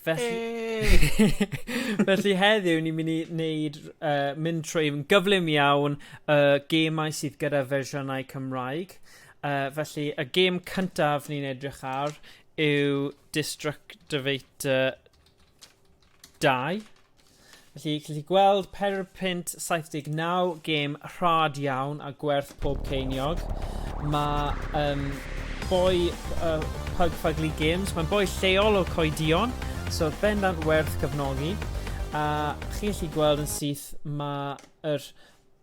Felly... Hey! felly heddiw ni'n mynd i wneud, uh, mynd trwy yn gyflym iawn y uh, gemau sydd gyda fersiynau Cymraeg. Uh, felly, y gêm cyntaf ni'n edrych ar yw Destructivator 2. Felly, chi'n gallu gweld pedwar punt 79, gêm rhad iawn a gwerth pob ceiniog. Mae um, boi uh, Pug Fugly Games, mae'n boi lleol o Coedion, so bendant werth cyfnogi. A chi'n gallu gweld yn syth mae'r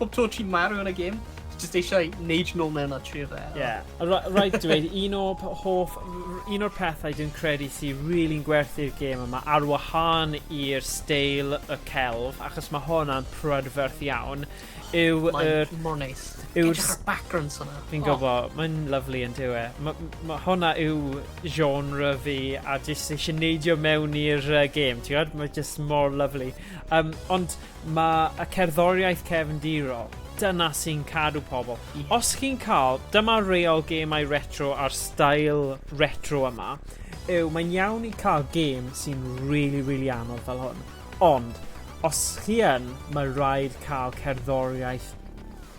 Pob tro ti'n marw yn y gêm, just eisiau neud nôl mewn a trio fe. Ie. Rhaid dweud, un o hoff, un o'r pethau dwi'n credu sy'n really'n gwerthu'r gêm yma ar wahân i'r steil y celf, achos mae hwnna'n prydferth iawn, yw y... Mae'n mor neis. Yw'r... backgrounds hwnna. Fi'n oh. gofo, mae'n lyflu yn dyw e. Mae hwnna yw genre fi a jyst eisiau neidio mewn i'r uh, gêm, ti'n gwybod? Mae jyst mor lyflu. Um, ond Mae y cerddoriaeth cefndirol, dyna sy'n cadw pobl. Os chi'n cael, dyma reol gemau retro a'r stael retro yma, yw mae'n iawn i cael gêm sy'n rili, rili anodd fel hwn, ond os chi yn, mae rhaid cael cerddoriaeth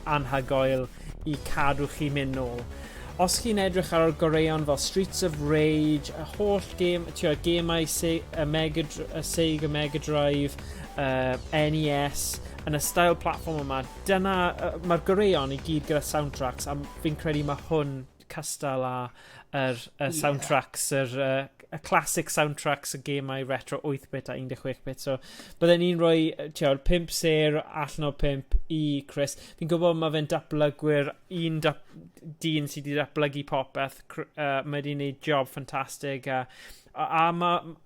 anhygoel i cadw chi mynd nôl. Os chi'n edrych ar ôl goreuon fel Streets of Rage, y holl gêm, tio, gemau se y Mega, y Sega Mega Drive, uh, NES, yn y stael platform yma, dyna, uh, mae'r goreuon i gyd gyda soundtracks, a fi'n credu mae hwn cystal â yr y yeah. soundtracks, yr uh, y classic soundtracks y gemau retro 8-bit a 16-bit. So, byddai'n un rhoi, tiawr, 5 ser allan o 5 i Chris. Fi'n gwybod mae fe'n dablygwyr, un dap, dyn sydd wedi datblygu popeth. Uh, mae wedi'n gwneud job ffantastig. A, a, a mae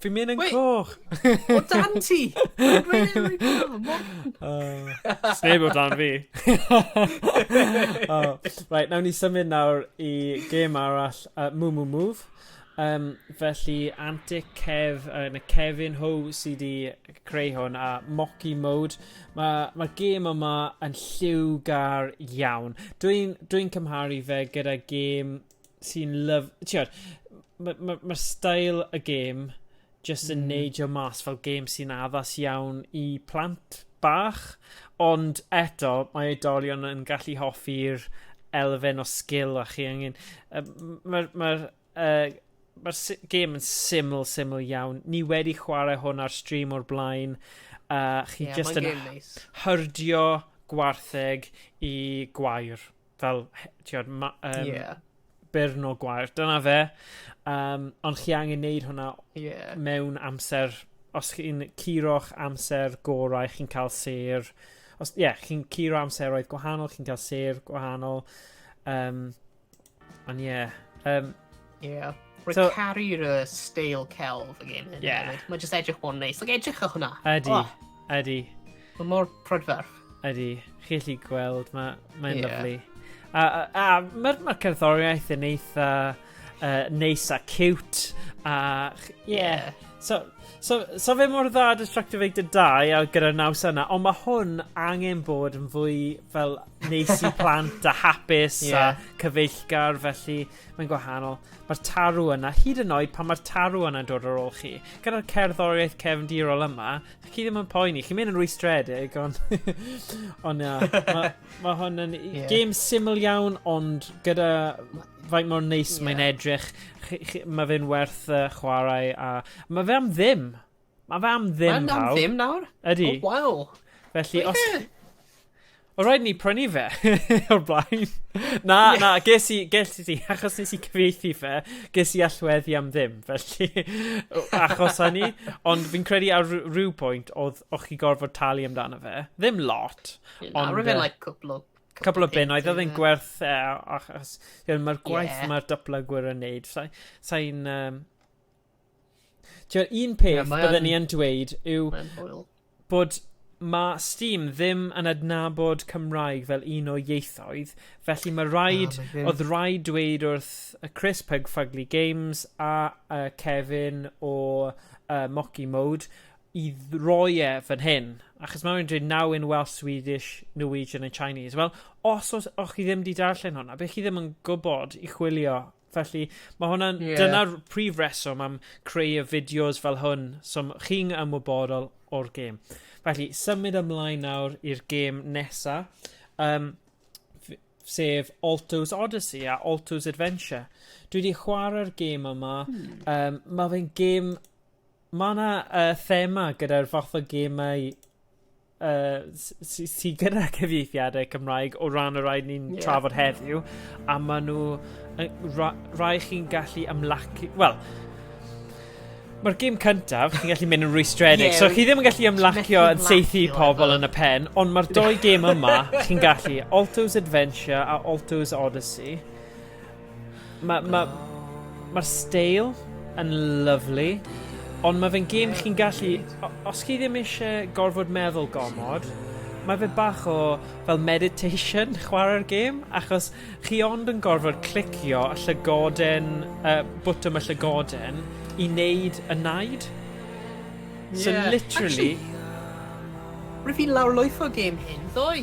Fi'n mynd yn coch! O dan ti! Sneb o dan fi. oh, right, nawn ni symud nawr i gêm arall, uh, Moo Moo Move. Um, felly, Antic Kev, uh, na Kevin Ho sydd wedi creu hwn, a Mocky Mode. Mae'r ma, ma gêm yma yn lliwgar iawn. Dwi'n dwi, cymharu fe gyda gêm sy'n lyf... Tibod, mae'r ma, ma stael y gêm jyst yn mm. neidio mas fel gêm sy'n addas iawn i plant bach, ond eto mae oedolion yn gallu hoffi'r elfen o sgil a chi angen... Mae'r ma, uh, ma gêm yn syml, syml iawn. Ni wedi chwarae hwn ar stream o'r blaen. Uh, chi yeah, just yn nice. hyrdio gwartheg i gwair. fel, ti'n gwybod, ma, um, yeah. byrn o gwair. Dyna fe. Um, ond chi angen neud hwnna yeah. mewn amser, os chi'n curo'ch amser gorau, chi'n cael ser. Os, ie, yeah, chi'n curo amseroedd gwahanol, chi'n cael ser gwahanol. Um, ond ie, yeah, um, Yeah. Rwy'n so, caru'r uh, steil celf y game hyn. Yeah. Mae jyst edrych o'n neis. Like, edrych o hwnna. Ydy, oh. ydy. Mae mor prydferth. Ydy, chi allu gweld, mae'n ma yeah. lyflu. A, a, a mae'r ma cerddoriaeth yn eitha uh, neis a cute. A, yeah. yeah. So, so, so fe mor dda Destructive Egg dy dau a gyda naws yna, ond mae hwn angen bod yn fwy fel neis i plant a hapus yeah. a cyfeillgar, felly mae'n gwahanol. Mae'r tarw yna, hyd yn oed pan mae'r tarw yna'n dod ar ôl chi. Gyda'r cerddoriaeth cefndirol yma, chi ddim yn poeni, chi'n mynd yn rwystredig, ond... ond ia, mae ma hwn yn yeah. game syml iawn, ond gyda faint mor neis yeah. mae'n edrych, mae fe'n werth uh, chwarae, a mae fe am ddim. Mae fe am ddim, Mae'n am ddim nawr? Ydy. Oh, waw. Felly, os... O rhaid ni prynu fe o'r blaen. Na, yes. na, ges i, ges i, achos nes i cyfeithi fe, ges i allweddi am ddim, felly, achos hynny, ond fi'n credu ar rhyw pwynt oedd o'ch chi gorfod talu amdano fe. Ddim lot. Yeah, ond... Ar fe, like, cwpl o Cwpl o bunnoedd, oedd e'n gwerth e, achos mae'r gwaith yeah. mae'r datblygwyr yn neud. Sa'n... Sa um, Ti'n un peth yeah, byddwn ni yn dweud yw bod mae Steam ddim yn adnabod Cymraeg fel un o ieithoedd, felly mae rhaid, oh, ah, oedd rhaid dweud wrth y Chris Pug Fugly Games a uh, Kevin o uh, Mocky Mode i roi e fan hyn. Achos mae rhywun dweud now in Welsh, Swedish, Norwegian and Chinese. Wel, os o'ch chi ddim wedi darllen hwnna, beth chi ddim yn gwybod i chwilio Felly, mae hwnna'n... Yeah. Dyna'r prif reswm am creu y fideos fel hwn, so chi'n ymwybodol o'r gêm. Felly, symud ymlaen nawr i'r gêm nesa, um, sef Alto's Odyssey a Alto's Adventure. Dwi wedi chwarae'r gêm yma. Hmm. Um, mae fe'n gêm... Mae yna uh, thema gyda'r fath o gemau yy sy sy gyda cyfieithiadau Cymraeg o ran y rhaid ni'n yeah. trafod heddiw a ma' nhw rai chi'n gallu ymlacu wel Mae'r gym cyntaf, chi'n gallu mynd yn rwystredig, yeah, so chi ddim yn gallu ymlacio yn seithi pobl yn y pen, ond mae'r doi gêm yma, chi'n gallu, Alto's Adventure a Alto's Odyssey. Mae ma, ma steil yn lyflu, ond mae fe'n gêm chi'n gallu... Os chi ddim eisiau gorfod meddwl gormod, mae fe bach o fel meditation chwarae'r gêm, achos chi ond yn gorfod clicio y llygoden, uh, bwtwm y llygoden, i wneud y naid. So yeah. literally... Actually, Rwyf fi lawrlwytho gêm hyn ddoe.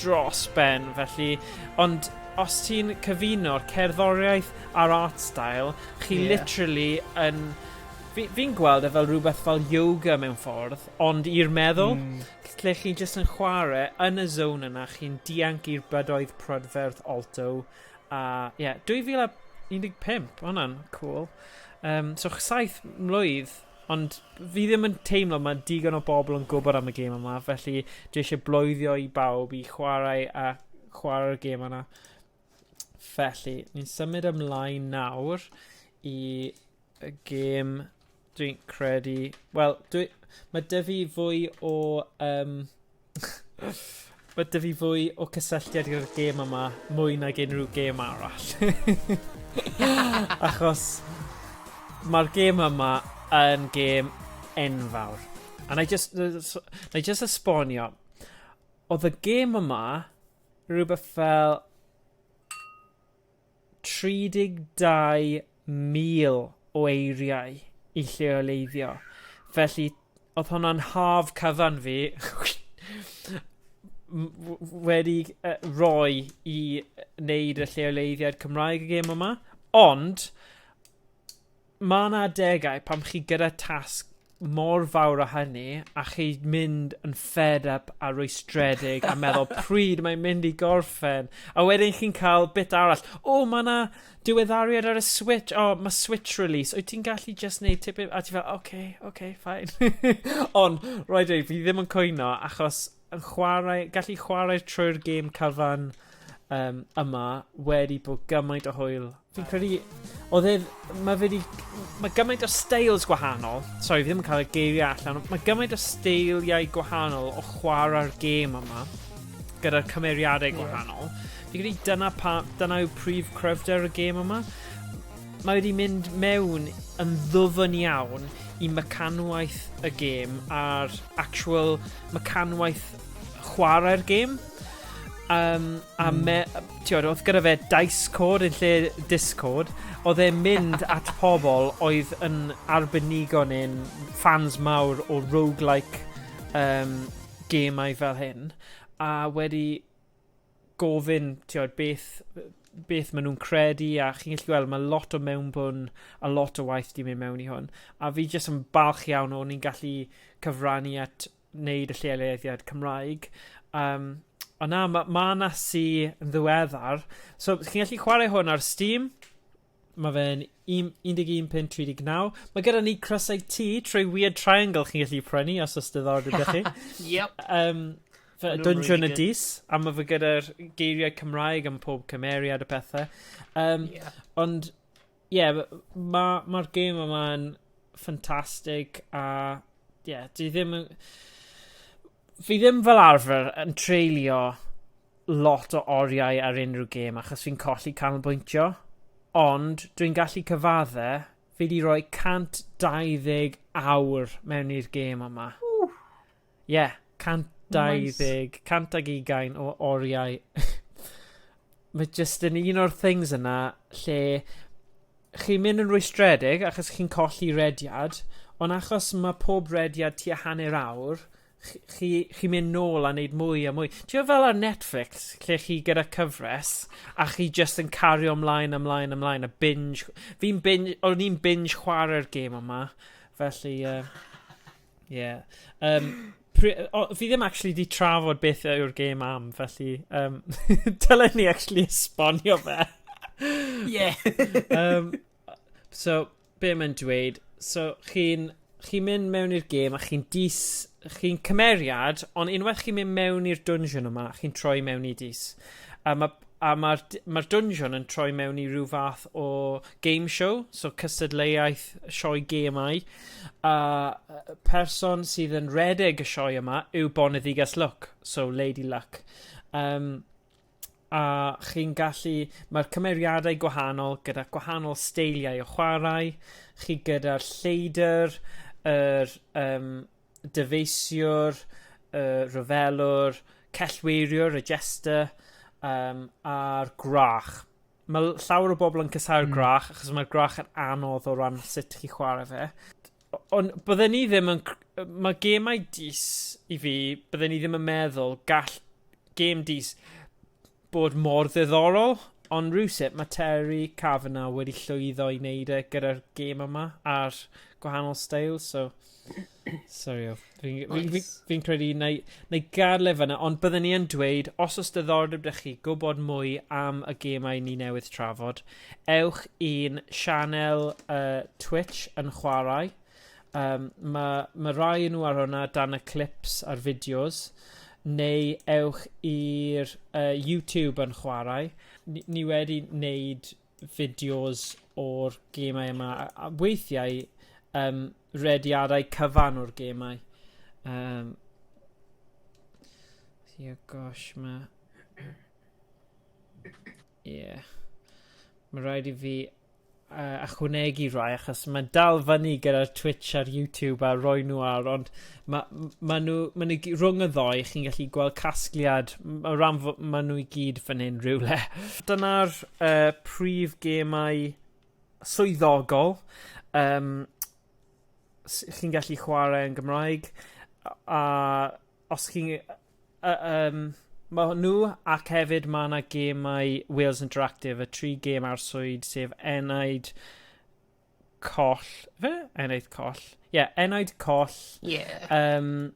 dros ben felly, ond os ti'n cyfuno'r cerddoriaeth a'r art style, chi yeah. literally yn... Fi'n fi gweld e fel rhywbeth fel yoga mewn ffordd, ond i'r meddwl, mm. lle chi jyst yn chwarae yn y zone yna, chi'n dianc i'r bydoedd prydferth alto, a ie, yeah, 2015, hwnna'n cool. Um, so saith mlwydd Ond fi ddim yn teimlo mae digon o bobl yn gwybod am y gêm yma, felly dwi eisiau bloeddio i bawb i chwarae a chwarae'r gêm yna. Felly, ni'n symud ymlaen nawr i y gêm dwi'n credu... Wel, dwi... mae dy fi fwy o... Um, Mae dy fi fwy o cysylltiad gyda'r gêm yma mwy nag unrhyw gêm arall. Achos mae'r gêm yma yn gêm enfawr. A na i just, na i just esbonio. Oedd y gêm yma rhywbeth fel 32,000 o eiriau i lleoleiddio, felly oedd hwnna'n haf cyfan fi wedi rhoi i wneud y lleoleiddiad Cymraeg y gêm yma, ond Mae yna adegau pan chi gyda tasg mor fawr â hynny a chi mynd yn fed up a rwystredig a meddwl pryd mae'n mynd i gorffen a wedyn chi'n cael bit arall o oh, mae yna diweddariad ar y switch o oh, mae switch release wyt ti'n gallu just neud tipyn a ti fel oce okay, oce okay, fine ond rhaid dweud fi ddim yn cwyno achos yn chwarae gallu chwarae trwy'r gêm cyfan um, yma wedi bod gymaint o hwyl Fi'n credu, oedd e, mae fe di, mae gymaint o styles gwahanol, sorry fi ddim yn cael y geiriau allan, mae gymaint o styliau gwahanol o chwarae'r gêm yma, gyda'r cymeriadau gwahanol. Yeah. Fi'n credu dyna, pa, dyna yw prif cryfder y gêm yma. Mae wedi mynd mewn yn ddwfn iawn i mecanwaith y gêm a'r actual mecanwaith chwarae'r gêm. Um, a mm. me, Ti'od, oedd gyda fe Discord yn lle Discord, oedd e'n mynd at pobl oedd yn arbenigo neu'n fans mawr o roguelike um, gemau fel hyn, a wedi gofyn, ti'od, beth, beth maen nhw'n credu, a chi'n gallu gweld, mae lot o mewnbwn a lot o waith di mynd mewn i hwn. A fi jyst yn balch iawn o'n i'n gallu cyfrannu at wneud y lleoliad Cymraeg yym ond na ma' ma' 'na sy yn ddiweddar so chi'n gallu chwarae hwn ar Steam ma' fe'n un un deg un punt tri deg naw ma' gyda ni crysau T trwy Weird Triangle chi'n gallu prynu os o's diddordeb 'da chi. Yep. Yym fe- Ma' nw'n Dwynsiwn y really good. Dis a ma' fe gyda'r geiriau Cymraeg am pob cymeriad a pethe yym Ie. ond Ie ma' ma' ma'r gêm yma'n ffantastig a ie dwi ddim yn fi ddim fel arfer yn treulio lot o oriau ar unrhyw gêm achos fi'n colli canolbwyntio ond dwi'n gallu cyfadde fi 'di roi 120 awr mewn i'r gêm yma. Ww. Ie, yeah, 120, 120 o oriau. Mae jyst yn un o'r things yna lle chi'n mynd yn rwystredig achos chi'n colli rediad, ond achos mae pob rediad tua hanner awr, chi'n chi, chi mynd nôl a wneud mwy a mwy. Ti'n fel ar Netflix, lle chi gyda cyfres, a chi jyst yn cario ymlaen, ymlaen, ymlaen, a binge... Fi'n binge... O'n i'n binge chwarae'r gêm yma, felly... Uh... Ie. Yym pri- yy o fi ddim actually 'di trafod beth yw'r gêm am felly yym dylen ni actually esbonio fe. Ie. Yym so be' mae'n dweud so chi'n chi'n mynd mewn i'r gêm a chi'n dis chi'n cymeriad on' unwaith chi'n mynd mewn i'r dwnsiwn yma chi'n troi mewn i dys a ma' a mae'r d- mae'r dungeon yn troi mewn i ryw fath o game show, so cystadleuaeth sioe gemau, a yy person sydd yn redeg y sioe yma yw Boneddigas Luck, so Lady Luck. Um, a chi'n gallu... Mae'r cymeriadau gwahanol gyda gwahanol steiliau o chwarae, chi gyda'r lleidr, yr, um, dyfeisiwr, uh, rhyfelwr, cellweiriwr, y jester, um, a'r gwrach. Mae llawer o bobl yn cysau'r mm. gwrach, achos mae'r gwrach yn anodd o ran sut chi chwarae fe. Ond byddwn ni ddim yn... Mae gemau dis i fi, byddwn ni ddim yn meddwl gall game dis bod mor ddiddorol, ond rywsut mae Terry Kavanagh wedi llwyddo i wneud e gyda'r gêm yma a'r gwahanol stael, so... Sorry o. Fi'n fi, fi, fi, fi credu na i, na i gael e fyna, ond byddwn ni yn dweud, os oes diddordeb da chi gwybod mwy am y gemau ni newydd trafod, ewch i'n sianel uh, Twitch yn chwarae, Yym ma' ma' rai o nw ar hwnna dan y clips a'r fideos neu ewch i'r yy YouTube yn chwarae. Ni ni wedi neud fideos o'r gemau yma a a weithiau yym rediadau cyfan o'r gemau. Yym. Sia gosh ma' Ie. Yeah. Mae rhaid i fi uh, achwnegu rai achos mae'n dal fyny gyda'r Twitch a'r YouTube a roi nhw ar ond mae ma nhw, ma nhw rhwng y ddoe chi'n gallu gweld casgliad o ran mae nhw i gyd fan hyn rhywle. Dyna'r uh, prif gemau swyddogol um, chi'n gallu chwarae yn Gymraeg a os chi'n yy yym ma' nhw ac hefyd ma' 'na gêmau Wales Interactive, y tri gêm arswyd sef Enaid Coll fe? Enaid Coll. Ie, yeah, Enaid Coll. Ie. Yeah. Um,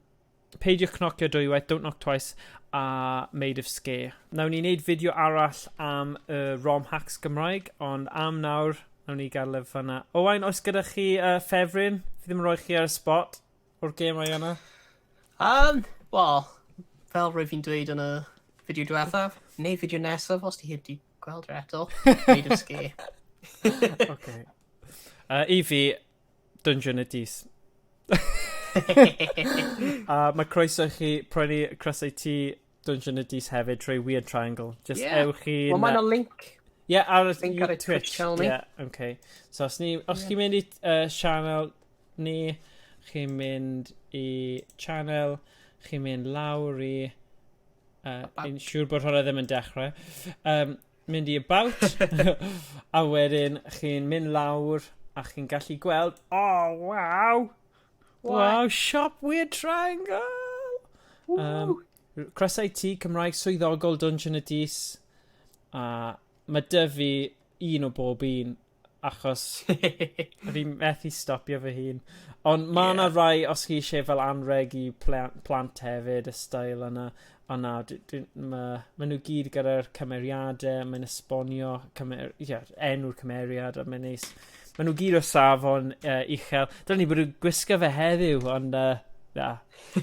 peidiwch cnocio dwywaith, Don't Knock Twice a Made of Scare. Nawn ni wneud fideo arall am y uh, ROM hacks Gymraeg, ond am nawr, nawn ni gael lyf fanna. Owain, oes gyda chi uh, ffefryn? Fi ddim yn rhoi chi ar y spot. o'r gemau yna? Um, wel, fel rwyf fi'n dweud yn y fideo diwethaf, neu fideo nesaf os ti heb di gweld yr eto, neud yn sgi. okay. Uh, I fi, Dungeon y Dis. a mae croeso i chi prynu crysau ti Dungeon Idiots hefyd trwy Weird Triangle. Just yeah. ewch i... Wel, mae'n link. Ie, yeah, ar y link ar y Twitch. channel ni. Yeah, okay. So, os, ni, os yeah. chi'n mynd i uh, channel ni, chi'n mynd i channel, chi'n mynd lawr i... Uh, yn siŵr bod hwnna ddim yn dechrau. Um, mynd i about, a wedyn chi'n mynd lawr a chi'n gallu gweld, oh, waw, Wow, siop Weird Triangle! Um, croeso i ti, Cymraeg swyddogol Dungeon y Dys. A mae dy fi un o bob un, achos fi methu stopio fy hun. Ond mae yna yeah. rai, os chi eisiau fel anreg i plant hefyd, y stael yna. O na, d- dwi... ma'... ma' nw gyd gyda'r cymeriade, mae'n esbonio cymer- ie, enw'r cymeriad a mae'n neis. Ma' nw gyd o safon yy uchel. Dylwn i bod yn gwisgo fe heddiw ond yy na.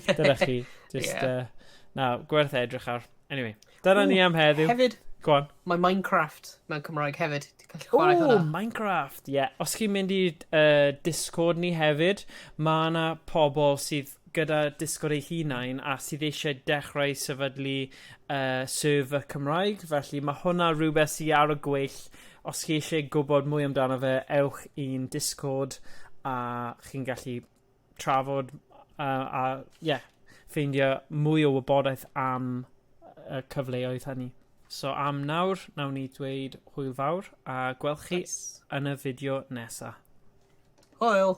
Dyna chi. Jyst yeah. uh, na, gwerth edrych ar. Anyway, dyna Ooh, ni am heddiw. Hefyd, Go on. Mae Minecraft mewn Cymraeg hefyd. O, Minecraft, ie. Yeah. Os chi'n mynd i uh, Discord ni hefyd, mae yna pobl sydd gyda dysgwr eu hunain a sydd eisiau dechrau sefydlu uh, server Cymraeg, felly mae hwnna rhywbeth sydd ar y gweill. Os chi eisiau gwybod mwy amdano fe, ewch i'n Discord a chi'n gallu trafod uh, a yeah, ffeindio mwy o wybodaeth am y cyfleoedd hynny. So am nawr, nawn ni dweud hwyl fawr a gwelch chi nice. yn y fideo nesaf. Hwyl!